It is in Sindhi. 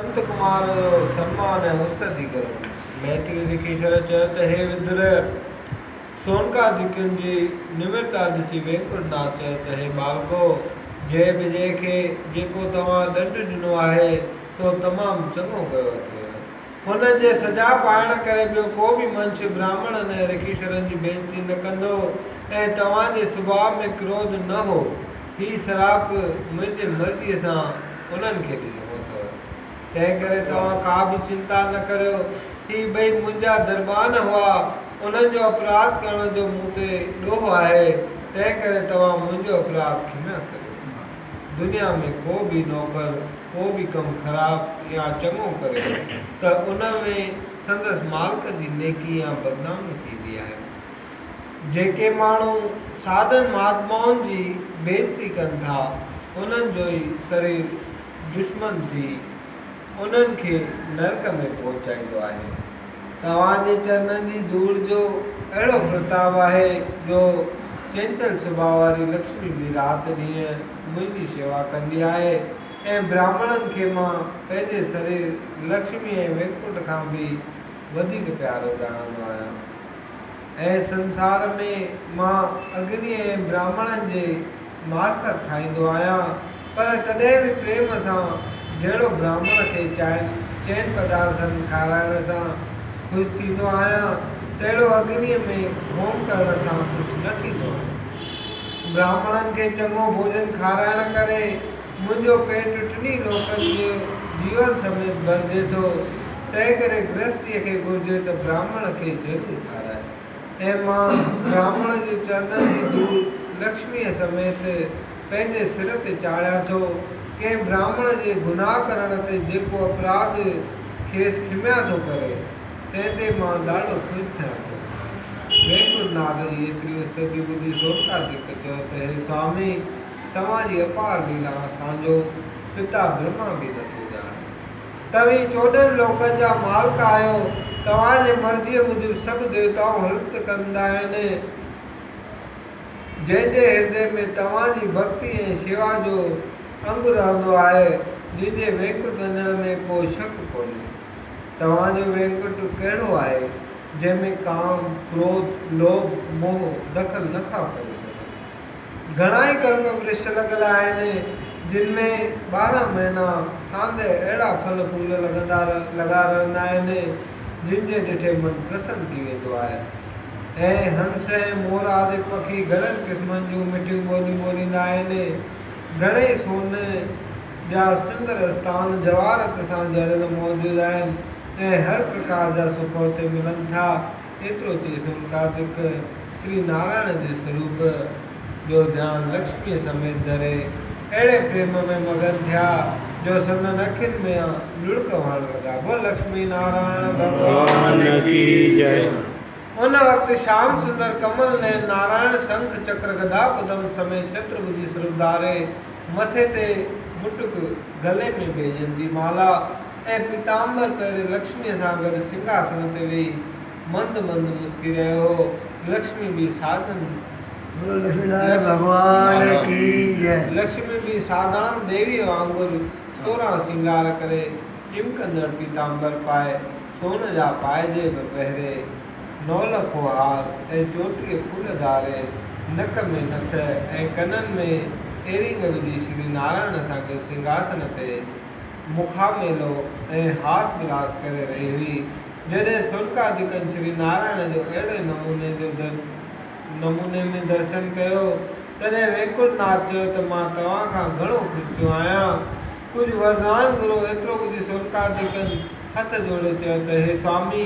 سنت ڪمار سنمان ۽ استدي ڪرڻ لاء ميتري رکيشور چيو ته هي ويدر! سونڪا جي ڪن جي نمرتا ڏسي وينڪٽ ناٿ چيو ته هي ٻالڪو! جي به جي کي جيڪو توهان ڏنڊ ڏنو آهي سو تمام چڱو ڪيو اٿئي. هن جي سجا پائڻ ڪري ٻيو ڪو به منش براهمڻن ۽ رکيشورن جي بيعزتي نه ڪندو ۽ توهان جي سڀاء ۾ ڪروڌ نه هو. هي سراپ منهنجي مرضيء سان انهن کي ڏنو اٿو، تنهنڪري توهان ڪا به چنتا نه ڪريو. هي ٻئي منهنجا دربان هئا، انهن جو اپراڌ ڪرڻ جو مون تي ڏوهه آهي، تنهنڪري توهان منهنجو اپراڌ کنهن ڪريو. دنيا ۾ ڪو به نوڪر ڪو به ڪم خراب يا چڱو ڪري ته ان ۾ سندس مالڪ جي نيڪي يا بدنامي ٿيندي آهي. جيڪي ماڻهو سادن مهاتمائن جي بيعزتي ڪن ٿا، انهن جو ئي سرير دشمن ٿي انهن کي نرڪ ۾ پهچائيندو آهي. توهان جي چرنن جي ڌوڙ جو اهڙو پرتاب آهي جو چنچل سڀاء واري لڪشمي به رات ڏينهن منهنجي شيوا ڪندي آهي ۽ براهمڻن کي مان پنهنجي سرير لڪشمي ۽ وينڪٽ کان به وڌيڪ پيارو ڄاڻندو آهيان. ۽ سنسار ۾ مان اگني ۽ براهمڻن جي معرفت کائيندو آهيان، پر تڏهن به پريم سان جهڙو براهمڻ کي چائين چئن پدارٿن کارائڻ سان خوش ٿيندو آهيان، تهڙو اگنيء ۾ هوم ڪرڻ سان خوش نه ٿيندو آهيان. براهمڻن کي چڱو ڀوڄن کارائڻ ڪري منهنجو پيٽ ٽنهي لوڪن جي جيون سميت ڀرجي ٿو، تنهنڪري گرهستيء کي گهرجي ته براهمڻ کي ضرور کارائي. ۽ مان براهمڻ جي چرنن جي ڌوڙ لڪشميء سميت پنهنجي سر تي چاڙهيان ٿو. ڪنهن براهمڻ جي گناهه ڪرڻ تي جيڪو اپراڌ کيس کميا ٿو ڪري، تنهن تي مان ڏاڍو خوش ٿيان ٿو. وينڪوٽ ناٿ جي ايتري استدي ٻڌي سومناٿ ڌڪ چيو ته، هي سوامي! توهان جي اپار ليلا اسان جو پتا برهما به نه ٿو ڄاڻي. توهين چوڏهن لوڪن جا مالڪ آهيو، توهان جي مرضيء موجب سڀ ديوتائون هلت ڪندا آهن، جنهن جي هردي ۾ توهان جي ڀڳتي ۽ شيوا جو انگ رهندو آهي، جنهن جي وينڪٽ وڃڻ ۾ ڪو شڪ ڪونهي. توهان جو وينڪٽ ڪهڙو آهي، جنهن ۾ ڪام، ڪروڌ، لوڀ، موهه دخل نه ٿا ڪري سگهن. گهڻا ئي ڪلم ورڇ لڳل آهن، جن ۾ ٻارهن مهينا ساندهه اهڙا ڦل ڦول لڳندا لڳا رهندا آهن، جن جي ڏٺي من پرسن ٿي ويندو آهي ۽ هنس ۽ مور آدڪ پکي گهڻن قسمن جون مٺيون ٻوليون ٻوليندا آهن. گهڻئي سون جا سندر استان جواهرت سان جڙيل موجود آهن ۽ هر پرڪار جا سک اتي ملن ٿا. ايترو چئي سمتا جيڪ شري نارائڻ جي سروپ جو ڌيان لڪشميء سميت ڌري اهڙي پريم ۾ مگن ٿيا جو سندن اکين مان لڙڪ وهڻ لڳا بول لڪشمي نارائڻ ڀڳوان ڪي جئه. ان وقت شيام سندر ڪمل نين نارائڻ شنک چڪر گدا پدم سميت چترڀجي سروپ ڌاري مٿي تي مٽڪ گلي ۾ بيجن جي مالا ۽ پيتامبر پهرين لڪشميء سان گڏ سنگهاسن تي ويهي مند مند مسڪي رهيو هو. لڪشمي به سادن. بولو لڪشمي نارائڻ ڀڳوان ڪي جئه. لڪشمي به سادان ديويء وانگر سورهن سنگهار ڪري، چمڪندڙ پيتامبر پائي، سون جا پائجيب پهري، نولکو هار ۽ چوٽيء ڦول ڌاري، نڪ ۾ نٿ ۽ ڪنن ۾ ايرنگ وجهي شري نارائڻ سان گڏ سنگهاسن تي. مخاميلو ۽ هاس ولاس ڪري رهي هئي، جڏهن سورڪا جي ڪن شري نارائڻ جو اهڙي نموني جو در نموني ۾ درشن ڪيو، تڏهن وينڪٽ ناٿ چيو ته مان توهان کان گهڻو خوش ٿيو آهيان. ڪجهه وردان گهرو ايترو ٻڌي سورڪا جي ڪن هٿ جوڙي چيو ته هي سوامي!